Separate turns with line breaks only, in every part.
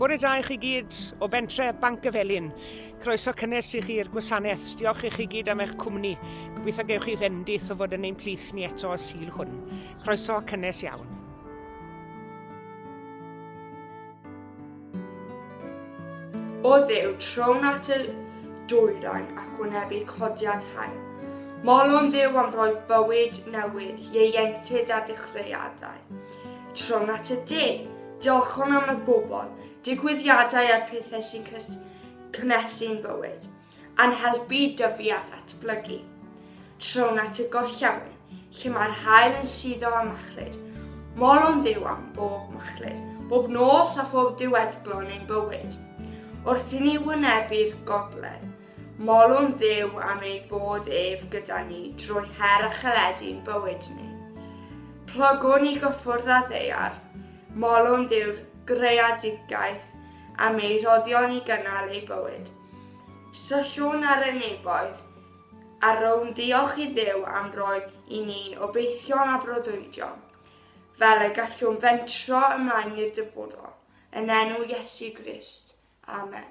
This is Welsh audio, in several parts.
Bore da i chi gyd o bentre Banc y Felin. Croeso cynnes i chi i'r gwasanaeth. Diolch i chi gyd am eich cwmni. Gobeithio gewch chi fendith o fod yn ein plith ni eto y sil hwn. Croeso cynnes iawn. O ddew, trown at y dwyrain ac wynebu codiad hael. Molwn ddew am roi bywyd newydd, ieuenctid a dechreuadau. Tron at y de. Diolch hwn am y bobl, digwyddiadau a'r pethau sy'n cynhesu'n bywyd, a'n helpu i dyfu a ddatblygu. Tron at y gorllewin, lle mae'r hael yn suddo a machlud. Molwn ddiw am bob machlud, bob nos a phob diweddglo yn ein bywyd. Wrth i ni wynebu'r gogledd, Molwn Dduw am ei fod ef gyda ni drwy her a chaledi yn bywyd ni. Plygwn i gyffwrdd â ddeiar, molwn Dduw'r greadigaeth am ei rhoddion i gynnal ei bywyd. Syllwn ar y nefoedd a rownd ddiolch i Dduw am roi i ni obeithion a breuddwydion, fel y gallwn fentro ymlaen i'r dyfodol, yn enw Iesu Grist. Amen.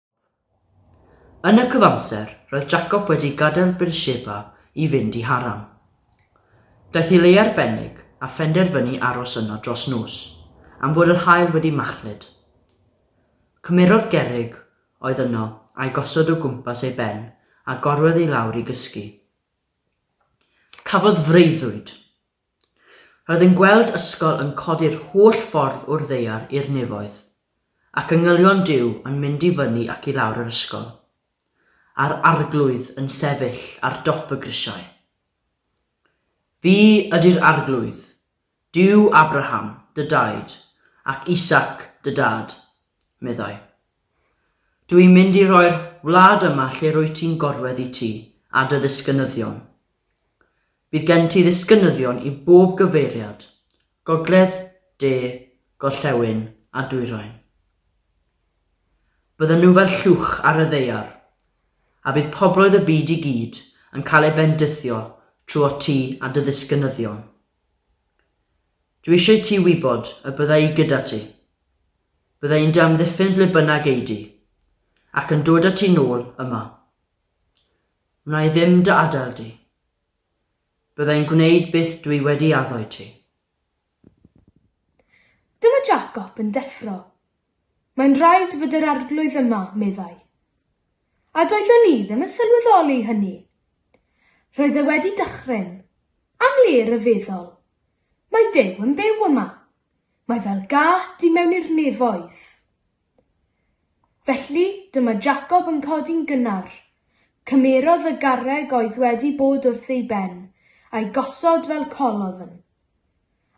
Yn y cyfamser, roedd Jacob wedi gadael Beersheba i fynd i Haran. Daeth i le arbennig a phenderfynu aros yno dros nos, am fod yr haul wedi machlud. Cymerodd gerrig oedd yno a'i gosod o gwmpas ei ben a gorwedd i lawr i gysgu. Cafodd freuddwyd. Roedd yn gweld ysgol yn codi'r holl ffordd o'r ddaear i'r nefoedd, ac yngylion Duw yn mynd i fyny ac i lawr yr ysgol, a'r Arglwydd yn sefyll ar dop y grisiau. Fi ydy'r Arglwydd, Duw Abraham, dy daid, ac Isaac, dy dad, meddai. Dw i'n mynd i roi'r wlad yma lle rwyt ti'n gorwedd i ti a dy ddisgynyddion. Bydd gen ti ddisgynyddion i bob gyfeiriad, gogledd, de, gorllewin a dwyrain. Byddan nhw fel llwch ar y ddaear, a bydd pobloedd y byd i gyd yn cael eu bendithio trwot ti a dy ddisgynyddion. Dwi eisiau ti wybod y bydda i gyda ti. Bydda i'n dy amddiffyn ble bynnag ei di, ac yn dod â ti nôl yma. Wna i ddim dy adael di. Byddai'n gwneud byth dwi wedi addo i ti. Dyma Jacob yn deffro. Mae'n rhaid fod yr Arglwydd yma, meddai. A doeddwn i ddim yn sylweddoli hynny. Roedd e wedi dychryn. Am le ryfeddol. Mae Duw yn byw yma. Mae fel gât i mewn i'r nefoedd. Felly, dyma Jacob yn codi'n gynnar. Cymerodd y garreg oedd wedi bod wrth ei ben, a'i gosod fel colodd yn.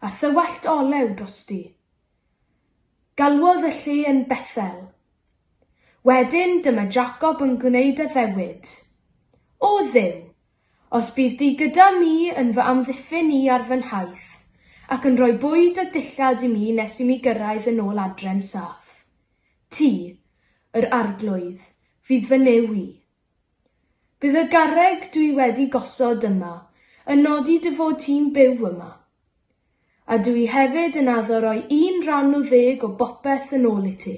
A thywallt olew drosti. Galwodd y lle yn Bethel. Wedyn, dyma Jacob yn gwneud addewid. O Dduw, Os bydd Di gyda mi yn fy amddiffyn i ar fy nhaith, ac yn rhoi bwyd a dillad i mi nes i mi gyrraedd yn ôl adre'n saff. Ti, yr Arglwydd, fydd fy Nuw i. Bydd y garreg dw i wedi gosod yma yn nodi dy fod ti'n byw yma. A dw i hefyd yn addo roi un ran o ddeg o bopeth yn ôl i ti.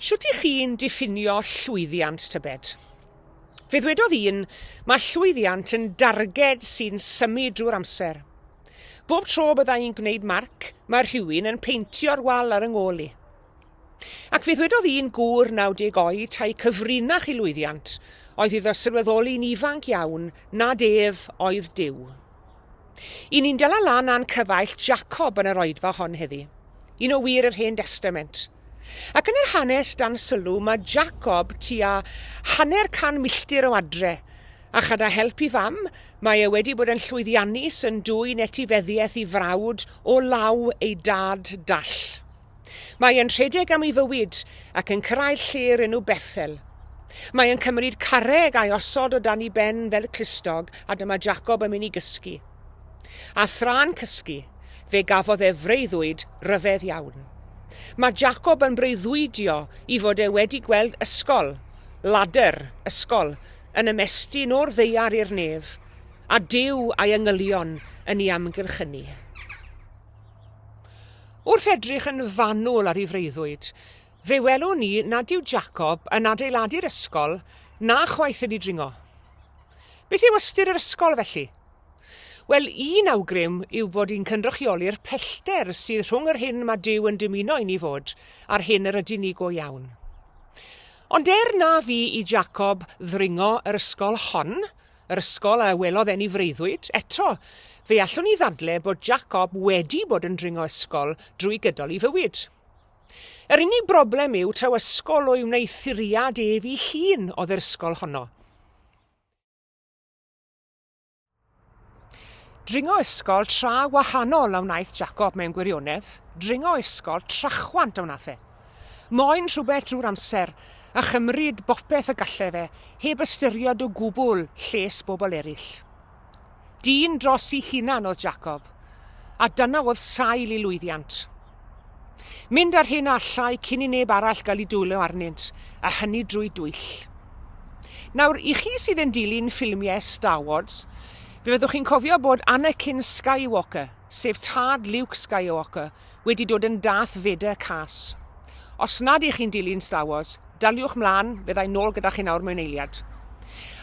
Shwt y'ch chi'n diffinio llwyddiant, tybed? Fe ddwedodd un, Mae llwyddiant yn darged sy'n symud drwy'r amser. Bob tro bydda i'n gwneud marc, mae rhywun yn peintio'r wal ar 'y ngôl i. Ac fe ddwedodd un gŵr 90 oed tae cyfrinach i lwyddiant oedd iddo sylweddoli'n ifanc iawn nad ef oedd Duw. Y ni'n dala lan a'n cyfaill Jacob yn yr oedfa hon heddi. Un o wir yr Hen Destament. Ac yn yr hanes dan sylw mae Jacob tua hanner can milltir o adre, a chada help i fam, mae e wedi bod yn llwyddiannus yn dwyn etifeddiaeth i frawd o law ei dad dall. Mae e'n rhedeg am ei fywyd ac yn cyrraedd lle o'r enw Bethel. Mae e'n cymryd carreg a'i osod o dan ei ben fel clustog a dyma Jacob yn mynd i gysgu. A thra'n cysgu, fe gafodd e freuddwyd ryfedd iawn. Mae Jacob yn breuddwydio i fod e wedi gweld ysgol, ladder, ysgol, yn ymestyn o'r ddeiar i'r nef, a Duw a'i angylion yn ei amgylchynu. Wrth edrych yn fanwl ar ei freuddwyd, fe welwn ni nad yw Jacob yn adeiladu'r ysgol na chwaith yn ei dringo. Beth yw ystyr yr ysgol, felly? Wel, un awgrym yw bod hi'n cynrychioli'r pellter sydd rhwng yr hyn mae Duw yn dymuno i ni fod a'r hyn yr ydyn ni go iawn. Ond er na fu i Jacob ddringo yr ysgol hon, yr ysgol a welodd eni freuddwyd. Eto, fe allwn ni ddadle bod Jacob wedi bod yn dringo ysgol drwy gydol ei fywyd. Yr unig broblem yw taw ysgol o'i wneuthuriad ef ei hun oedd yr ysgol honno. Dringo ysgol tra wahanol a wnaeth Jacob mewn gwirionedd, dringo ysgol trachwant a wnaeth e. Moyn rhywbeth drwy'r amser, a chymryd bopeth y galle fe, heb ystyried o gwbl lles bobl eraill. Dyn dros i hunan oedd Jacob, a dyna oedd sail i lwyddiant. Mynd â'r hyn allai cyn i neb arall gael ei dwyllo arnynt, a hynny drwy dwyll. Nawr, i chi sydd yn dilyn ffilmiau Star Wars, fe fyddwch chi'n cofio bod Anakin Skywalker, sef tad Luke Skywalker, wedi dod yn Darth Vader cas. Os nad ych chi'n dilyn Star Wars, daliwch mlaen, fyddai nôl gyda chi nawr mewn eiliad.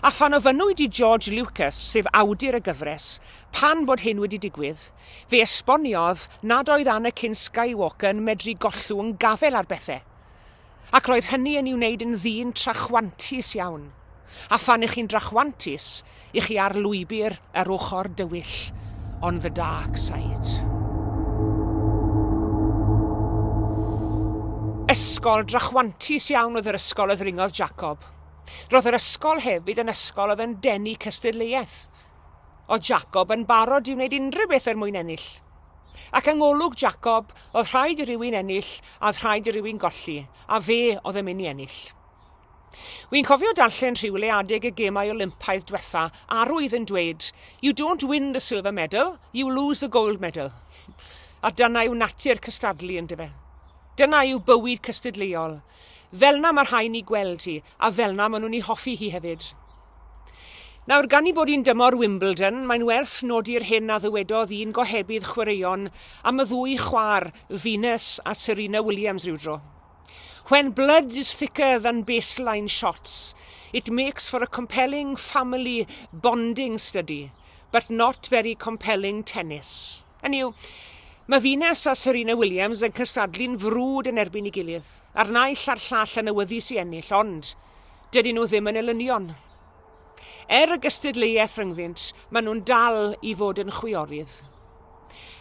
A phan ofynnwyd i George Lucas, sef awdur y gyfres, pan bod hyn wedi digwydd, fe esboniodd nad oedd Anakin Skywalker yn medru gollwng gafael ar bethau. Ac roedd hynny yn i'w wneud yn ddyn trachwantus iawn. A phan ych chi'n drachwantus, ych chi ar lwybr yr ochr dywyll, on the dark side. Ysgol drachwantus iawn oedd yr ysgol y ddringodd Jacob. Roedd yr ysgol hefyd yn ysgol oedd yn denu cystadleuaeth. Oedd Jacob yn barod i wneud unrhyw beth er mwyn ennill. Ac yng ngolwg Jacob, oedd rhaid i rywun ennill a oedd rhaid i rywun golli, a fe oedd yn mynd i ennill. Wi'n cofio darllen rhywle adeg y gemau Olympaidd diwetha, arwydd yn dweud, You don't win the silver medal, you lose the gold medal. A dyna yw natur cystadlu, yn dyfe? Dyna yw bywyd cystadleuol. Fel na mae rhai ni gweld hi, A fel'na ma' nhw'n 'i hoffi hi hefyd. Nawr, gan 'i bod 'i'n dymor Wimbledon, mae'n werth nodi'r hyn a ddywedodd un gohebydd chwaraeon am y ddwy chwaer, Venus a Serena Williams rywdro, When blood is thicker than baseline shots, it makes for a compelling family bonding study, but not very compelling tennis. Hynny yw, mae Venus a Serena Williams yn cystadlu'n frwd yn erbyn ei gilydd, a'r naill a'r llall yn awyddus i ennill, ond dydyn nhw ddim yn elynion. Er y gystadleuaeth rhyngddynt, maen nhw'n dal i fod yn chwiorydd.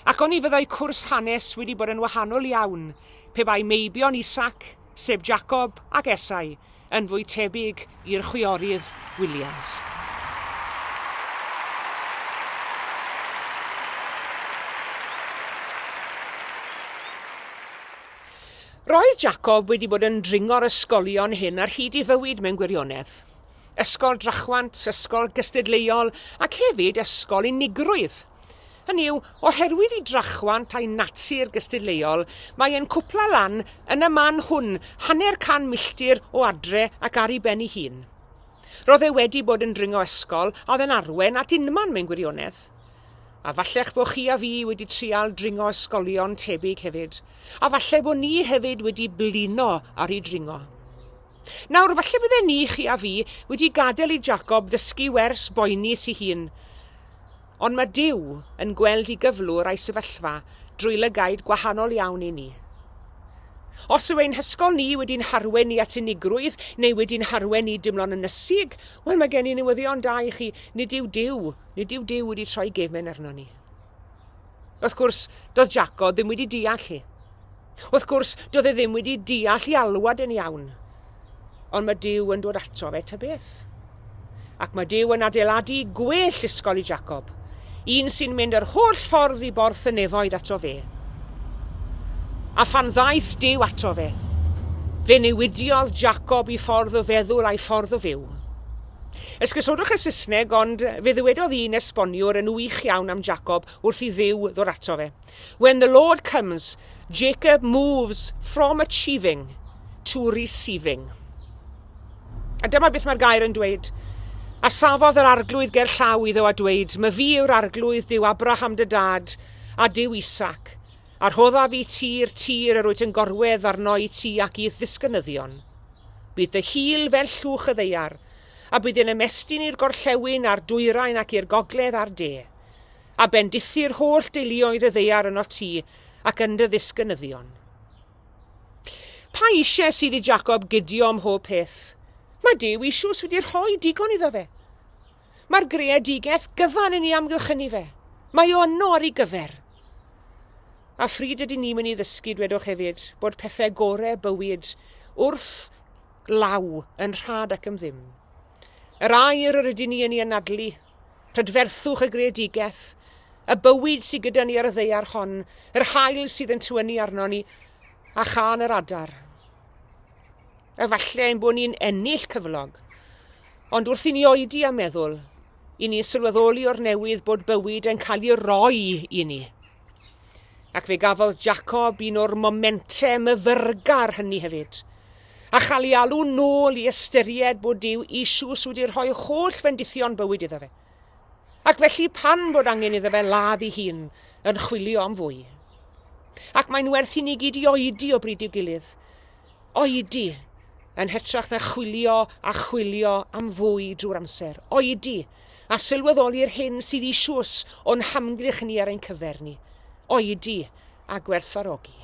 Ac oni fyddai cwrs hanes wedi bod yn wahanol iawn pe bai meibion Isaac, sef Jacob ac Esau, yn fwy tebyg i'r chwiorydd Williams. Roedd Jacob wedi bod yn dringo'r ysgolion hyn ar hyd ei fywyd mewn gwirionedd. Ysgol Drachwant, Ysgol Gystadleuol ac hefyd Ysgol Unigrwydd. Hynny yw, oherwydd i drachwant a'i natur gystadleuol, mae e'n cwpla lan yn y man hwn, hanner can milltir o adre ac ar ei ben ei hun. Roedd e wedi bod yn dringo ysgol a oedd e'n arwen at unman mewn gwirionedd. A fallech bod chi a fi wedi trial dringo ysgolion tebyg hefyd, a falle bod ni hefyd wedi blino ar ei dringo. Nawr, falle bydde ni, chi a fi, wedi gadael i Jacob ddysgu wers boeni si hun, Ond mae Duw yn gweld i gyflwr a'i sefyllfa drwy lygaid gwahanol iawn i ni. Os yw ein hysgol ni wedi'n harwen ni at unigrwydd neu wedi'n harwen ni dimlo'n ynysig, wel mae gen i newyddion da i chi, nid yw Duw, nid yw Duw wedi troi gefn arno ni. Wrth gwrs, doedd Jaco ddim wedi deall hi. Wrth gwrs, doedd e ddim wedi deall i alwad yn iawn. Ond mae Dyw yn dod ato fe ta beth. Ac mae Dyw yn adeiladu gwell ysgol i Jacob, un sy'n mynd yr holl ffordd i borth y nefoedd ato fe. A phan ddaeth Dyw ato fe, fe newidiodd Jacob i ffordd o feddwl a'i ffordd o fyw. Esgusodwch y Saesneg, ond fe ddywedodd un esboniwr yn wych iawn am Jacob wrth i Dduw ddod ato fe. When the Lord comes, Jacob moves from achieving to receiving. A dyma beth mae'r gair yn dweud. A safodd yr arglwydd ger llaw iddo a dweud, Mae fi yw'r arglwydd, Dyw Abraham dy dad, a Dyw Isaac. A rhoddaf i ti'r tir yr wyt yn gorwedd arno'i ti ac i'th ddisgynyddion. Bydd dy hil fel llwch y ddeiar, a bydd yn ymestyn i'r gorllewin a'r dwyrain ac i'r gogledd a'r de. A bendithi'r holl deuluoedd y ddeiar yno ti ac yn dy ddisgynyddion. Pa eisiau sydd i Jacob gydio ym mhob peth? Mae Duw eisoes wedi rhoi digon iddo fe. Mae'r greadigaeth gyfan yn ei amgylchynu fe. Mae o yno ar ei gyfer. A phryd ydyn ni'n mynd i ddysgu, dwedwch hefyd, bod pethau gore bywyd wrth law yn rhad ac yn ddim. Yr air yr ydyn ni yn ei anadlu, prydferthwch y greadigaeth, y bywyd sydd gyda ni ar y ddeiar hon, yr hael sydd yn tywynnu arno ni, a chan yr adar. efallai ein bod ni'n ennill cyflog. Ond wrth i ni oedi a meddwl, i ni sylweddoli o'r newydd bod bywyd yn cael ei roi i ni. Ac fe gafodd Jacob un o'r momentau myfyrgar hynny hefyd, a chael ei alw nôl i ystyried bod Dyw Isus wedi rhoi holl fendithion bywyd iddo fe. Ac felly pan fod angen iddo fe ladd ei hun yn chwilio am fwy. Ac mae'n werth i ni gyd i oedi o bryd i'w gilydd, Oedi, yn hytrach na chwilio a chwilio am fwy drwy'r amser. Oedi, a sylweddoli'r hyn sydd eisius o'n hamgylch ni ar ein cyfer ni. Oedi, a gwerthfarogi.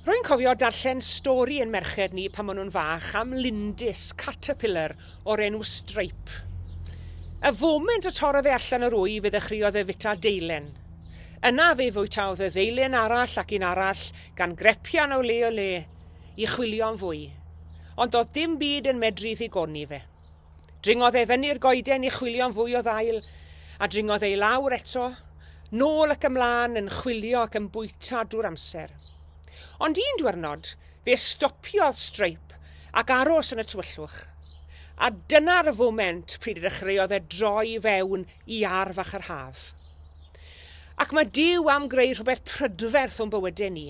Rwy'n cofio darllen stori i'n merched ni pan o'n nhw'n fach am lindys, caterpillar, o'r enw Stripe. Y foment y torrodd e allan o'r wy fe ddechreuodd e fwyta deilen. Yna fe fwytaodd y ddeilen arall ac un arall gan grepian o le i le i chwilio am fwy. Ond doedd dim byd yn medru ddigoni fe. Dringodd e fyny'r goeden i chwilio'n fwy o ddail, a dringodd ei lawr eto, nôl ac ymlaen yn chwilio ac yn bwyta drwy'r amser. Ond un diwrnod, fe stopiodd Streipp ac aros yn y tywyllwch. A dyna'r y foment pryd y dechreuodd e droi i fewn i arf fach yr haf. Ac mae Duw am greu rhywbeth prydferth o'n bywydau ni.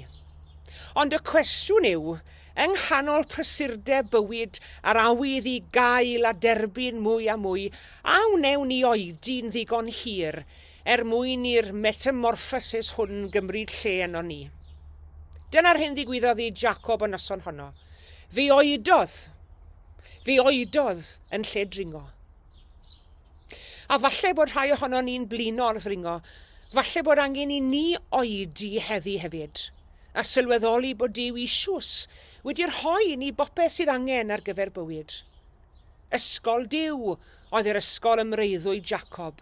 Ond y cwestiwn yw, Yng nghanol prysurdeb bywyd a'r awydd i gael a derbyn mwy a mwy, a wnewn ni oedi'n ddigon hir er mwyn i'r metamorffosis hwn gymryd lle ynon ni? Dyna'r hyn ddigwyddodd i Jacob y noson honno. Fe oedodd. Fe oedodd yn lle dringo. A falle bod rhai ohonon ni'n blino'r ddringo, falle bod angen i ni oedi heddi hefyd. a sylweddoli bod Duw eisius wedi rhoi i ni bopeth sydd angen ar gyfer bywyd. Ysgol Duw oedd yr ysgol ym mreuddwyd Jacob,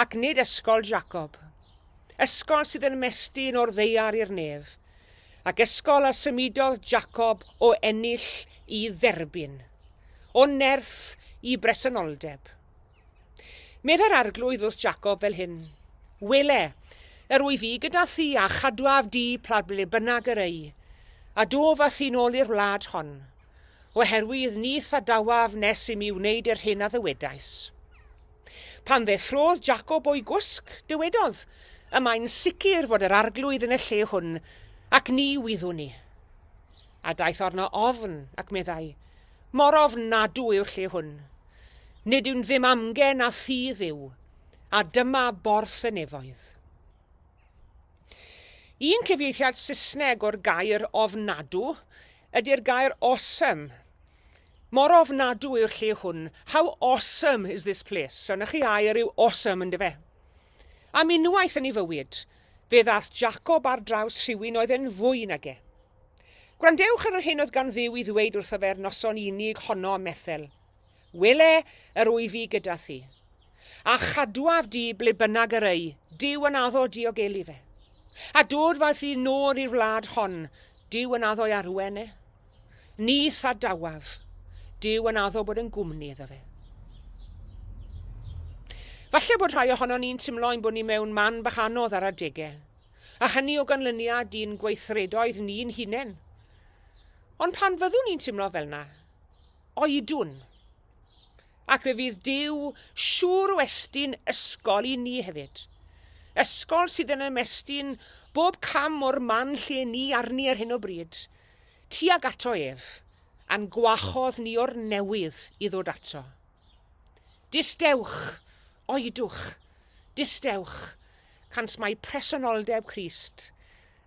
ac nid ysgol Jacob. Ysgol sydd yn mestyn o'r ddeiar i'r nef, ac ysgol a symudodd Jacob o ennill i dderbyn, o nerth i bresenoldeb. Meddai'r Arglwydd wrth Jacob fel hyn, Wele, yr wyf i gyda thi a chadwaf di pla ble bynnag yr ei, a dof a thi'n ôl i'r wlad hon, oherwydd ni thadawaf nes i mi wneud yr hyn a ddywedais. Pan ddeffrodd Jacob o'i gwsg, dywedodd, Y mae'n sicr fod yr Arglwydd yn y lle hwn, ac ni wyddwn ni. A daeth arno ofn, ac meddai, Mor ofnadw yw'r lle hwn. Nid yw'n ddim amgen a thudd yw, a dyma borth y nefoedd. Un cyfieithiad Saesneg o'r gair ofnadw ydy'r gair awesome. Mor ofnadw yw'r lle hwn. How awesome is this place? So, na chi air yw awesome, ynddo fe? Am unwaith yn ei fywyd, fe ddath Jacob ar draws rhywun oedd yn fwy nag e. Gwrandewch ar yr hyn oedd gan Dduw i ddweud wrtho fe'r noson unig honno ym Methel. Wele, yr wy fi gyda thi. A chadwaf di ble bynnag yr ei, Dyw yn addo diogelu fe. A dod faeth ddi nôl i'r wlad hon, Dyw yn addo i arwen e. Ni thadawaf, Dyw yn addo bod yn gwmni iddo fe. Falle bod rhai ohono ni'n timlo ein bod ni mewn man bach anodd ar adegau. a hynny o ganlyniad i'n gweithredoedd ni'n hunain. Ond pan fyddwn ni'n timlo fel na, oedwn. Ac fe fydd Dyw siŵr o estyn ysgol i ni hefyd. Ysgol sydd yn ymestyn bob cam o'r man lle ni arni ar hyn o bryd, tuag ato ef, a'n gwahodd ni o'r newydd i ddod ato. Distewch, oedwch, distewch, cant mai presenoldeb Christ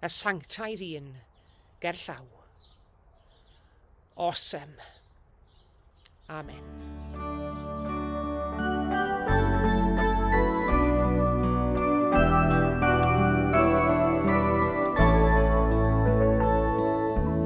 y sanctaidd un gerllaw. Awesome. Amen.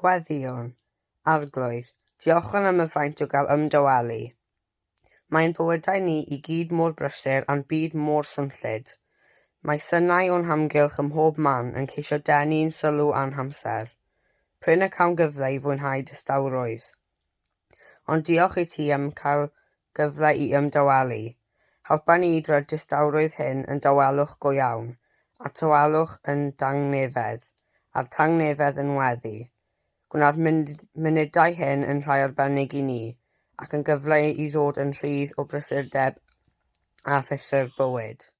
Gweddïwn, Arglwydd, diolchwn am y fraint o gael ymdawelu. Mae'n bywydau ni i gyd mor brysur a'n byd mor swnllyd. Mae synau o'n hamgylch ym mhob man yn ceisio denu i'n sylw a'n hamser. Prin y cawn gyfle i fwynhau distawrwydd. Ond diolch i ti am cael gyfle i ymdawalu. Helpa ni i droi'r distawrwydd hyn yn dawelwch go iawn, a'r tawelwch yn dangnefedd, a'r tangnefedd yn weddi. Gwna'r munudau hyn yn rhai arbennig i ni, ac yn gyfle i ddod yn rhydd o brysurdeb a phrysur bywyd.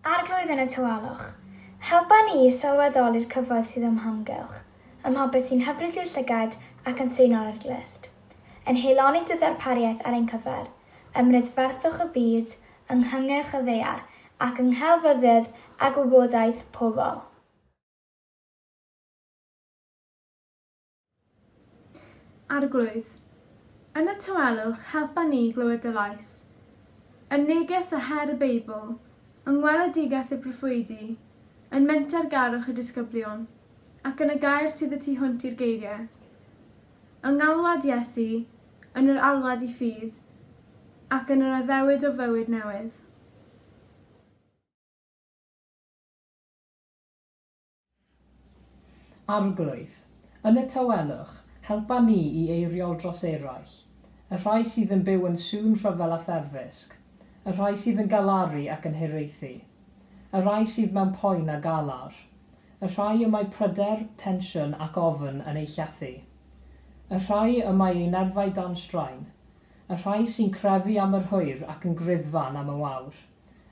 Arglwydd yn y tawelwch, helpa ni i sylweddoli'r cyfoeth sydd o'm hamgylch, ym mhopeth sy'n hyfryd i'w llygad ac yn seinor i'r glust, yn heiloni dy ddarpariaeth ar ein cyfer, ym mhrydferthwch y byd, yng nghyngerch y ddaear, ac yng nghelfyddyd a gwybodaeth pobl. Arglwydd, yn y tawelwch helpa ni i glywed dy lais. Yn neges a her y Beibl, yng ngweledigaeth y proffwydi, yn menter garwch y disgyblion, ac yn y gair sydd y tu hwnt i'r geiriau. Yng ngalwad Iesu, yn yr alwad i ffydd, ac yn yr addewid o fywyd newydd. Arglwydd, yn y tawelwch, helpa ni i eiriol dros eraill, y rhai sydd yn byw yn sŵn rhyfel a therfysg, y rhai sydd yn galaru ac yn hiraethu, y rhai sydd mewn poen a galar, y rhai y mae pryder, tensiwn ac ofn yn eu llethu, y rhai y mae eu nerfau dan straen, y rhai sy'n crefu am yr hwyr ac yn gruddfan am y wawr,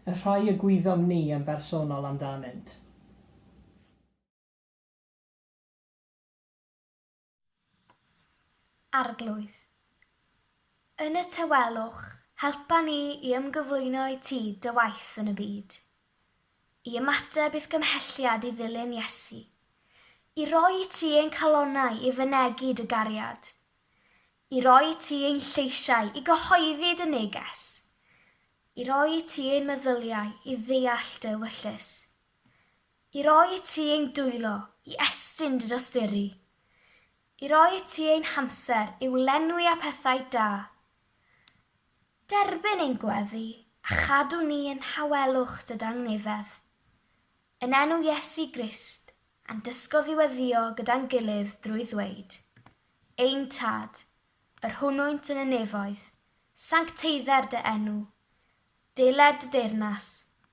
y rhai y gwyddom ni yn bersonol amdanynt. Arglwydd. Yn y tawelwch, helpa ni i ymgyflwyno i Ti, Dy waith yn y byd. I ymateb i'th gymhelliad i ddilyn Iesu. I roi i Ti ein calonnau i fynegi Dy gariad. I roi i Ti ein lleisiau i gyhoeddi Dy neges. I roi i ti ein meddyliau i ddeall dy ewyllys. I roi i ti ein dwylo i estyn dy dosturi. I roi i ti ein hamser i'w lenwi â phethau da. Derbyn ein gweddi a chadw ni yn nhawelwch dy dangnefedd. Yn enw Iesu Grist, a'n dysgodd i weddïo gyda'n gilydd drwy ddweud, Ein Tad, yr hwnnwynt yn y nefoedd, sancteidder dy enw, deler dy deyrnas,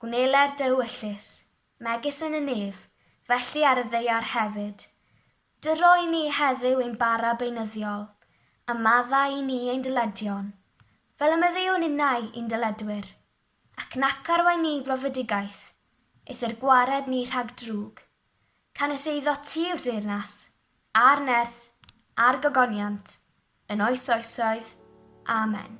gwneler dy ewyllys, megis yn y nef, felly ar y ddaear hefyd. Dyro i ni heddyw ein bara beunyddiol, a madda i ni ein dyledion, fel y meddywn innau i'n dyledwyr. Ac nac arwain ni brofedigaeth, eithr gwared ni rhag drwg, canys eiddo ti yw'r deyrnas, a'r nerth, a'r gogoniant, yn oes oesoedd. Amen.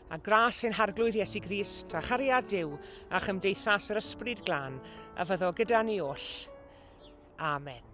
a gras sy'n Harglwydd Iesu Grist, a chariad Duw, a chymdeithas yr Ysbryd Glân, a fyddo gyda ni oll. Amen.